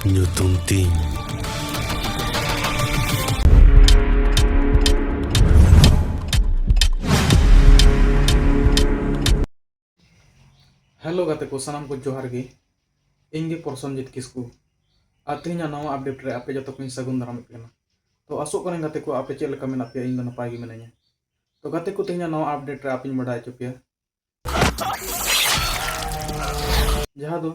Nho tontinho. Hello ᱜᱟᱛᱮ ᱠᱚ ᱥᱟᱱᱟᱢ ᱠᱚ ᱡᱚᱦᱟᱨ ᱜᱮ ᱤᱧ ᱜᱮ ᱯᱨᱚᱥᱚᱱᱡᱤᱛ ᱠᱤᱥᱠᱩ ᱟᱨ ᱛᱮᱦᱮᱧᱟᱜ ᱱᱟᱣᱟ ᱟᱯᱰᱮᱴ ᱨᱮ ᱟᱯᱮ ᱡᱚᱛᱚ ᱠᱚᱧ ᱥᱟᱹᱜᱩᱱ ᱫᱟᱨᱟᱢᱮᱫ ᱠᱟᱱᱟ ᱛᱚ ᱟᱥᱚᱜ ᱠᱟᱹᱱᱟᱹᱧ ᱜᱟᱛᱮ ᱠᱚ ᱟᱯᱮ ᱪᱮᱫ ᱞᱮᱠᱟ ᱢᱮᱱᱟᱜ ᱯᱮᱭᱟ ᱤᱧ ᱫᱚ ᱱᱟᱯᱟᱭ ᱜᱮ ᱢᱤᱱᱟᱹᱧᱟ ᱛᱚ ᱜᱟᱛᱮ ᱠᱚ ᱛᱮᱦᱮᱧᱟᱜ ᱱᱟᱣᱟ ᱟᱯᱰᱮᱴ ᱨᱮ ᱟᱯᱮᱧ ᱵᱟᱰᱟᱭ ᱦᱚᱪᱚ ᱯᱮᱭᱟ ᱡᱟᱦᱟᱸ ᱫᱚ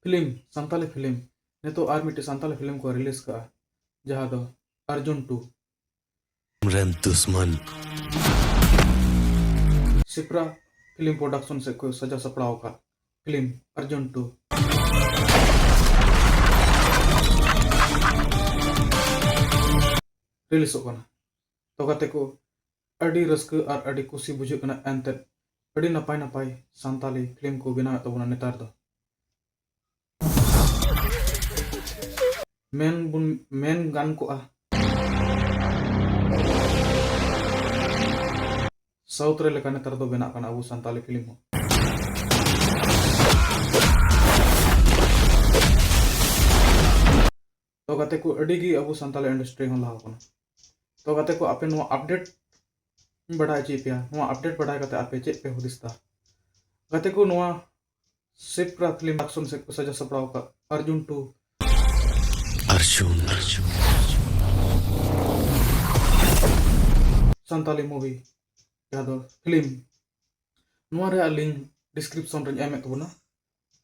ᱯᱷᱤᱞᱢ ᱥᱟᱱᱛᱟᱞᱤ ᱯᱷᱤᱞᱢ ᱱᱤᱛᱚᱜ ᱟᱨ ᱢᱤᱫᱴᱮᱱ ᱥᱟᱱᱛᱟᱞᱤ ᱯᱷᱤᱞᱢ ᱠᱚ ᱨᱤᱞᱤᱡᱽ ᱠᱟᱜᱼᱟ ᱡᱟᱦᱟᱸ ᱫᱚ ᱟᱨᱡᱩᱱ ᱴᱩ ᱨᱮᱱ ᱫᱩᱥᱢᱟᱱ ᱥᱤᱯᱨᱟ ᱯᱷᱤᱞᱢ ᱯᱨᱚᱰᱟᱠᱥᱚᱱ ᱥᱮᱫ ᱠᱷᱚᱱ ᱥᱟᱡᱟᱣ ᱥᱟᱯᱲᱟᱣ ᱟᱠᱟᱫ ᱯᱷᱤᱞᱢ ᱟᱨᱡᱩᱱ ᱴᱩ ᱨᱤᱞᱤᱡᱚᱜ ᱠᱟᱱᱟ ᱛᱚ ᱜᱟᱛᱮ ᱠᱚ ᱟᱹᱰᱤ ᱨᱟᱹᱥᱠᱟᱹ ᱟᱨ ᱟᱹᱰᱤ ᱠᱩᱥᱤ ᱵᱩᱡᱷᱟᱹᱜ ᱠᱟᱱᱟ ᱮᱱᱛᱮᱫ ᱟᱹᱰᱤ ᱱᱟᱯᱟᱭ ᱱᱟᱯᱟᱭ ᱥᱟᱱᱛᱟᱞᱤ ᱯᱷᱤᱞᱢ ᱠᱚ ᱵᱮᱱᱟᱣᱮᱫ ᱛᱟᱵᱚᱱᱟ ᱱᱮᱛᱟᱨ ᱫᱚ ᱢᱮᱱ ᱵᱚᱱ ᱢᱮᱱ ᱜᱟᱱ ᱠᱚᱜᱼᱟ ᱥᱟᱣᱩᱛᱷ ᱨᱮ ᱞᱮᱠᱟ ᱱᱮᱛᱟᱨ ᱫᱚ ᱵᱮᱱᱟᱜ ᱠᱟᱱᱟ ᱟᱵᱚ ᱥᱟᱱᱛᱟᱞᱤ ᱯᱷᱤᱞᱢ ᱦᱚᱸ ᱛᱚ ᱜᱟᱛᱮ ᱠᱚ ᱟᱹᱰᱤ ᱜᱮ ᱟᱵᱚ ᱥᱟᱱᱛᱟᱞᱤ ᱤᱱᱰᱟᱥᱴᱨᱤ ᱦᱚᱸ ᱞᱟᱦᱟᱣ ᱠᱟᱱᱟ ᱛᱚ ᱜᱟᱛᱮ ᱠᱚ ᱟᱯᱮ ᱱᱚᱣᱟ ᱟᱯᱰᱮᱴ ᱤᱧ ᱵᱟᱰᱟᱭ ᱦᱚᱪᱚᱭᱮᱫ ᱯᱮᱭᱟ ᱱᱚᱣᱟ ᱟᱯᱰᱮᱴ ᱵᱟᱰᱟᱭ ᱠᱟᱛᱮ ᱟᱯᱮ ᱪᱮᱫ ᱯᱮ ᱦᱩᱫᱤᱥ ᱮᱫᱟ ᱜᱟᱛᱮ ᱠᱚ ᱱᱚᱣᱟ ᱥᱤᱯᱨᱟ ᱯᱷᱤᱞᱢ ᱟᱠᱥᱚᱱ ᱥᱮᱫ ᱠᱚ ᱥᱟᱡᱟ ᱥᱟᱯᱲᱟᱣ ᱟᱠᱟᱫ ᱟᱨᱡᱩᱱ ᱴᱩ ᱟᱨᱡᱩᱱ ᱟᱨᱡᱩᱱ ᱥᱟᱱᱛᱟᱞᱤ ᱢᱩᱵᱷᱤ ᱡᱟᱦᱟᱸ ᱫᱚ ᱯᱷᱤᱞᱢ ᱱᱚᱣᱟ ᱨᱮᱭᱟᱜ ᱞᱤᱝᱠ ᱰᱤᱥᱠᱨᱤᱯᱥᱚᱱ ᱨᱮᱧ ᱮᱢᱮᱫ ᱛᱟᱵᱚᱱᱟ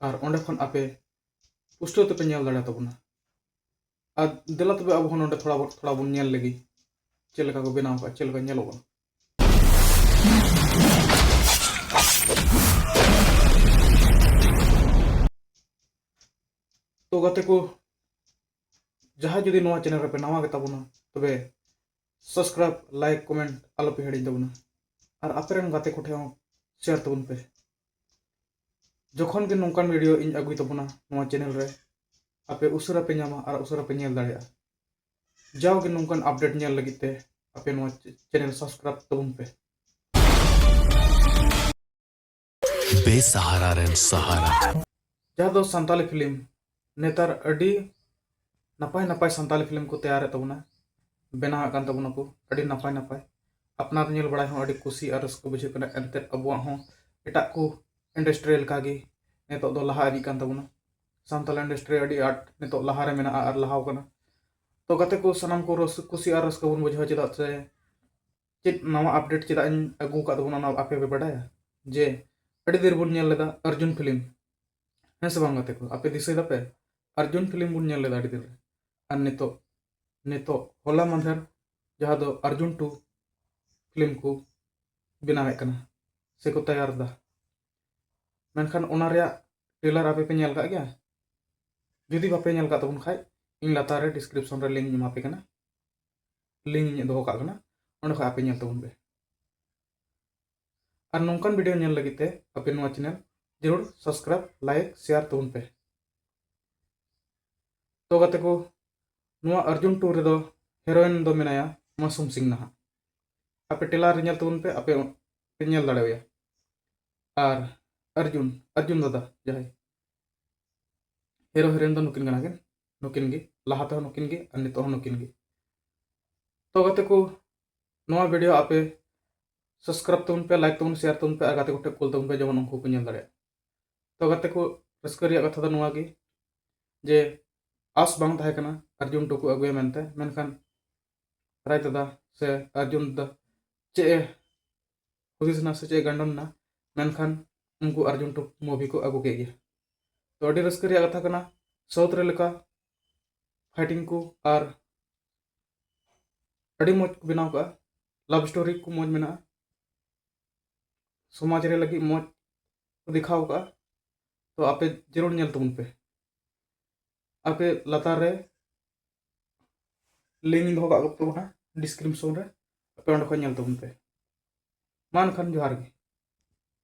ᱟᱨ ᱚᱸᱰᱮ ᱠᱷᱚᱱ ᱟᱯᱮ ᱯᱩᱥᱴᱟᱹᱣ ᱛᱮᱯᱮ ᱧᱮᱞ ᱫᱟᱲᱮ ᱛᱟᱵᱚᱱᱟ ᱟᱨ ᱫᱮᱞᱟ ᱛᱚᱵᱮ ᱟᱵᱚ ᱦᱚᱸ ᱱᱚᱰᱮ ᱛᱷᱚᱲᱟ ᱵᱚᱱ ᱛᱷᱚᱲᱟ ᱵᱚᱱ ᱧᱮᱞ ᱞᱮᱜᱮ ᱪᱮᱫ ᱞᱮᱠᱟ ᱠᱚ ᱵᱮᱱᱟᱣ ᱠᱟᱜᱼᱟ ᱪᱮᱫ ᱞᱮᱠᱟ ᱧᱮᱞᱚᱜ ᱠᱟᱱᱟ ᱛᱚ ᱜᱟᱛᱮ ᱠᱚ ᱡᱟᱦᱟᱸ ᱡᱩᱫᱤ ᱱᱚᱣᱟ ᱪᱮᱱᱮᱞ ᱨᱮᱯᱮ ᱱᱟᱣᱟ ᱜᱮ ᱛᱟᱵᱚᱱᱟ ᱛᱚᱵᱮ ᱥᱟᱵᱥᱠᱨᱟᱭᱤᱵ ᱞᱟᱭᱤᱠ ᱠᱚᱢᱮᱱᱴ ᱟᱞᱚᱯᱮ ᱦᱤᱲᱤᱧ ᱛᱟᱵᱚᱱᱟ ᱟᱨ ᱟᱯᱮ ᱨᱮᱱ ᱜᱟᱛᱮ ᱠᱚᱴᱷᱮᱱ ᱦᱚᱸ ᱥᱮᱭᱟᱨ ᱛᱟᱵᱚᱱ ᱯᱮ ᱡᱚᱠᱷᱚᱱ ᱜᱮ ᱱᱚᱝᱠᱟᱱ ᱵᱷᱤᱰᱤᱭᱳ ᱤᱧ ᱟᱹᱜᱩᱭ ᱛᱟᱵᱚᱱᱟ ᱱᱚᱣᱟ ᱪᱮᱱᱮᱞ ᱨᱮ ᱟᱯᱮ ᱩᱥᱟᱹᱨᱟ ᱯᱮ ᱧᱟᱢᱟ ᱟᱨ ᱩᱥᱟᱹᱨᱟ ᱯᱮ ᱧᱮᱞ ᱫᱟᱲᱮᱭᱟᱜᱼᱟ ᱡᱟᱣᱜᱮ ᱱᱚᱝᱠᱟᱱ ᱟᱯᱰᱮᱴ ᱧᱮᱞ ᱞᱟᱹᱜᱤᱫ ᱛᱮ ᱟᱯᱮ ᱱᱚᱣᱟ ᱪᱮᱱᱮᱞ ᱥᱟᱵᱥᱠᱨᱟᱭᱤᱵ ᱛᱟᱵᱚᱱ ᱯᱮ ᱵᱮᱥᱟᱦᱟᱨᱟ ᱨᱮᱱ ᱥᱟᱦᱟᱨᱟ ᱡᱟᱦᱟᱸ ᱫᱚ ᱥᱟᱱᱛᱟᱞᱤ ᱯᱷᱤᱞᱢ ᱱᱮᱛᱟᱨ ᱟᱹᱰᱤ ᱱᱟᱯᱟᱭ ᱱᱟᱯᱟᱭ ᱥᱟᱱᱛᱟᱞᱤ ᱯᱷᱤᱞᱢ ᱠᱚ ᱛᱮᱭᱟᱨᱮᱫ ᱛᱟᱵᱚᱱᱟ ᱵᱮᱱᱟᱣᱮᱫ ᱠᱟᱱ ᱛᱟᱵᱚᱱᱟ ᱠᱚ ᱟᱹᱰᱤ ᱱᱟᱯᱟᱭ ᱱᱟᱯᱟᱭ ᱟᱯᱱᱟᱨ ᱧᱮᱞ ᱵᱟᱲᱟᱭ ᱦᱚᱸ ᱟᱹᱰᱤ ᱠᱩᱥᱤ ᱟᱨ ᱨᱟᱹᱥᱠᱟᱹ ᱵᱩᱡᱷᱟᱹᱜ ᱠᱟᱱᱟ ᱮᱱᱛᱮᱫ ᱟᱵᱚᱣᱟᱜ ᱦᱚᱸ ᱮᱴᱟᱜ ᱠᱚ ᱤᱱᱰᱟᱥᱴᱨᱤ ᱞᱮᱠᱟᱜᱮ ᱱᱤᱛᱚᱜ ᱫᱚ ᱞᱟᱦᱟ ᱤᱫᱤᱜ ᱠᱟᱱ ᱛᱟᱵᱚᱱᱟ ᱥᱟᱱᱛᱟᱞ ᱤᱱᱰᱟᱥᱴᱨᱤ ᱟᱹᱰᱤ ᱟᱸᱴ ᱱᱤᱛᱚᱜ ᱞᱟᱦᱟᱨᱮ ᱢᱮᱱᱟᱜᱼᱟ ᱟᱨ ᱞᱟᱦᱟᱣ ᱠᱟᱱᱟ ᱛᱚ ᱜᱟᱛᱮ ᱠᱚ ᱥᱟᱱᱟᱢ ᱠᱚ ᱠᱩᱥᱤ ᱟᱨ ᱨᱟᱹᱥᱠᱟᱹ ᱵᱚᱱ ᱵᱩᱡᱷᱟᱹᱣᱟ ᱪᱮᱫᱟᱜ ᱥᱮ ᱪᱮᱫ ᱱᱟᱣᱟ ᱟᱯᱰᱮᱴ ᱪᱮᱫᱟᱜ ᱤᱧ ᱟᱹᱜᱩ ᱟᱠᱟᱫ ᱛᱟᱵᱚᱱᱟ ᱚᱱᱟ ᱟᱯᱮ ᱯᱮ ᱵᱟᱰᱟᱭᱟ ᱡᱮ ᱟᱹᱰᱤ ᱫᱤᱱ ᱨᱮᱵᱚᱱ ᱧᱮᱞ ᱞᱮᱫᱟ ᱚᱨᱡᱩᱱ ᱯᱷᱤᱞᱢ ᱦᱮᱸ ᱥᱮ ᱵᱟᱝ ᱜᱟᱛᱮ ᱠᱚ ᱟᱯᱮ ᱫᱤᱥᱟᱹᱭ ᱫᱟᱯᱮ ᱟᱨᱡᱩᱱ ᱯᱷᱤᱞᱢ ᱵᱚᱱ ᱧᱮᱞ ᱞᱮᱫᱟ ᱟᱹᱰᱤ ᱫᱤᱱ ᱨᱮ ᱟᱨ ᱱᱤᱛᱚᱜ ᱱᱤᱛᱚᱜ ᱦᱚᱞᱟ ᱢᱟᱫᱷᱮᱨ ᱡᱟᱦᱟᱸ ᱫᱚ ᱟᱨᱡᱩᱱ ᱴᱩ ᱯᱷᱤᱞᱢ ᱠᱚ ᱵᱮᱱᱟᱣᱮᱫ ᱠᱟᱱᱟ ᱥᱮᱠᱚ ᱛᱮᱭᱟᱨ ᱮᱫᱟ ᱢᱮᱱᱠᱷᱟᱱ ᱚᱱᱟ ᱨᱮᱭᱟᱜ ᱴᱨᱮᱞᱟᱨ ᱟᱯᱮ ᱯᱮ ᱧᱮᱞ ᱠᱟᱜ ᱜᱮᱭᱟ ᱡᱩᱫᱤ ᱵᱟᱯᱮ ᱧᱮᱞ ᱠᱟᱜ ᱛᱟᱵᱚᱱ ᱠᱷᱟᱡ ᱤᱧ ᱞᱟᱛᱟᱨ ᱨᱮ ᱰᱤᱥᱠᱨᱤᱯᱥᱚᱱ ᱨᱮ ᱞᱤᱝᱠ ᱮᱢᱟ ᱯᱮ ᱠᱟᱱᱟ ᱞᱤᱝᱠ ᱤᱧ ᱫᱚᱦᱚ ᱠᱟᱜ ᱠᱟᱱᱟ ᱚᱸᱰᱮ ᱠᱷᱚᱡ ᱟᱯᱮ ᱧᱮᱞ ᱛᱟᱵᱚᱱ ᱯᱮ ᱟᱨ ᱱᱚᱝᱠᱟᱱ ᱵᱷᱤᱰᱤᱭᱳ ᱧᱮᱞ ᱞᱟᱹᱜᱤᱫ ᱛᱮ ᱟᱯᱮ ᱱᱚᱣᱟ ᱪᱮᱱᱮᱞ ᱡᱟᱹᱨᱩᱲ ᱥᱟᱵᱥᱠᱨᱟᱭᱤᱵ ᱞᱟᱭᱤᱠ ᱥᱮᱭᱟᱨ ᱛᱟᱵᱚᱱ ᱯᱮ ᱛᱚ ᱜᱟᱛᱮ ᱠᱚ ᱱᱚᱣᱟ ᱚᱨᱡᱩᱱ ᱴᱩ ᱨᱮᱫᱚ ᱦᱤᱨᱳᱭᱤᱱ ᱫᱚ ᱢᱮᱱᱟᱭᱟ ᱢᱟᱥᱩᱢ ᱥᱤᱝ ᱱᱟᱦᱟᱜ ᱟᱯᱮ ᱴᱮᱞᱟᱨ ᱨᱮ ᱧᱮᱞ ᱛᱟᱵᱚᱱ ᱯᱮ ᱟᱯᱮ ᱯᱮ ᱧᱮᱞ ᱫᱟᱲᱮᱣᱟᱭᱟ ᱟᱨ ᱚᱨᱡᱩᱱ ᱚᱨᱡᱩᱱ ᱫᱟᱫᱟ ᱡᱟᱦᱟᱸᱭ ᱦᱤᱨᱳ ᱦᱤᱨᱳᱭᱤᱱ ᱫᱚ ᱱᱩᱠᱤᱱ ᱠᱟᱱᱟ ᱠᱤᱱ ᱱᱩᱠᱤᱱ ᱜᱮ ᱞᱟᱦᱟ ᱛᱮᱦᱚᱸ ᱱᱩᱠᱤᱱ ᱜᱮ ᱟᱨ ᱱᱤᱛᱚᱜ ᱦᱚᱸ ᱱᱩᱠᱤᱱ ᱜᱮ ᱛᱚ ᱜᱟᱛᱮ ᱠᱚ ᱱᱚᱣᱟ ᱵᱷᱤᱰᱤᱭᱳ ᱟᱯᱮ ᱥᱟᱵᱥᱠᱨᱟᱭᱤᱵ ᱛᱟᱵᱚᱱ ᱯᱮ ᱞᱟᱭᱤᱠ ᱛᱟᱵᱚᱱ ᱥᱮᱭᱟᱨ ᱛᱟᱵᱚᱱ ᱯᱮ ᱟᱨ ᱜᱟᱛᱮ ᱠᱚᱴᱷᱮᱱ ᱠᱩᱞ ᱛᱟᱵᱚᱱ ᱯᱮ ᱡᱮᱢᱚᱱ ᱩᱱᱠᱩ ᱠᱚ ᱧᱮᱞ ᱫᱟᱲᱮᱭᱟᱜ ᱛᱚ ᱜᱟᱛᱮ ᱠᱚ ᱨᱟᱹᱥᱠᱟᱹ ᱨᱮᱭᱟᱜ ᱠᱟᱛᱷᱟ ᱫᱚ ᱱᱚᱣᱟ ᱜᱮ ᱡᱮ ᱟᱥ ᱵᱟᱝ ᱛᱟᱦᱮᱸ ᱠᱟᱱᱟ ᱟᱨᱡᱩᱱ ᱴᱩᱠᱩ ᱟᱹᱜᱩᱭᱟ ᱢᱮᱱᱛᱮ ᱢᱮᱱᱠᱷᱟᱱ ᱨᱟᱭ ᱫᱟᱫᱟ ᱥᱮ ᱟᱨᱡᱩᱱ ᱫᱟᱫᱟ ᱪᱮᱫ ᱮ ᱦᱩᱫᱤᱥ ᱮᱱᱟ ᱥᱮ ᱪᱮᱫ ᱜᱟᱱᱰᱚᱱ ᱮᱱᱟ ᱢᱮᱱᱠᱷᱟᱱ ᱩᱱᱠᱩ ᱟᱨᱡᱩᱱ ᱴᱩ ᱢᱩᱵᱷᱤ ᱠᱚ ᱟᱹᱜᱩ ᱠᱮᱫ ᱜᱮᱭᱟ ᱛᱚ ᱟᱹᱰᱤ ᱨᱟᱹᱥᱠᱟᱹ ᱨᱮᱭᱟᱜ ᱠᱟᱛᱷᱟ ᱠᱟᱱᱟ ᱥᱟᱣᱩᱛᱷ ᱨᱮ ᱞᱮᱠᱟ ᱯᱷᱟᱭᱴᱤᱝ ᱠᱚ ᱟᱨ ᱟᱹᱰᱤ ᱢᱚᱡᱽ ᱠᱚ ᱵᱮᱱᱟᱣ ᱠᱟᱜᱼᱟ ᱞᱟᱵᱷ ᱥᱴᱳᱨᱤ ᱠᱚ ᱢᱚᱡᱽ ᱢᱮᱱᱟᱜᱼᱟ ᱥᱚᱢᱟᱡᱽ ᱨᱮ ᱞᱟᱹᱜᱤᱫ ᱢᱚᱡᱽ ᱠᱚ ᱫᱮᱠᱷᱟᱣ ᱠᱟᱜᱼᱟ ᱛᱚ ᱟᱯᱮ ᱡᱟᱹᱨᱩᱲ ᱧᱮᱞ ᱛᱟᱵᱚᱱ ᱯᱮ ᱟᱯᱮ ᱞᱟᱛᱟᱨ ᱨᱮ ᱞᱤᱝᱠ ᱤᱧ ᱫᱚᱦᱚ ᱠᱟᱜ ᱠᱚ ᱛᱟᱵᱚᱱᱟ ᱰᱤᱥᱠᱨᱤᱯᱥᱚᱱ ᱨᱮ ᱟᱯᱮ ᱚᱸᱰᱮ ᱠᱷᱚᱱ ᱧᱮᱞ ᱛᱟᱵᱚᱱ ᱯᱮ ᱢᱟ ᱮᱱᱠᱷᱟᱱ ᱡᱚᱦᱟᱨ ᱜᱮ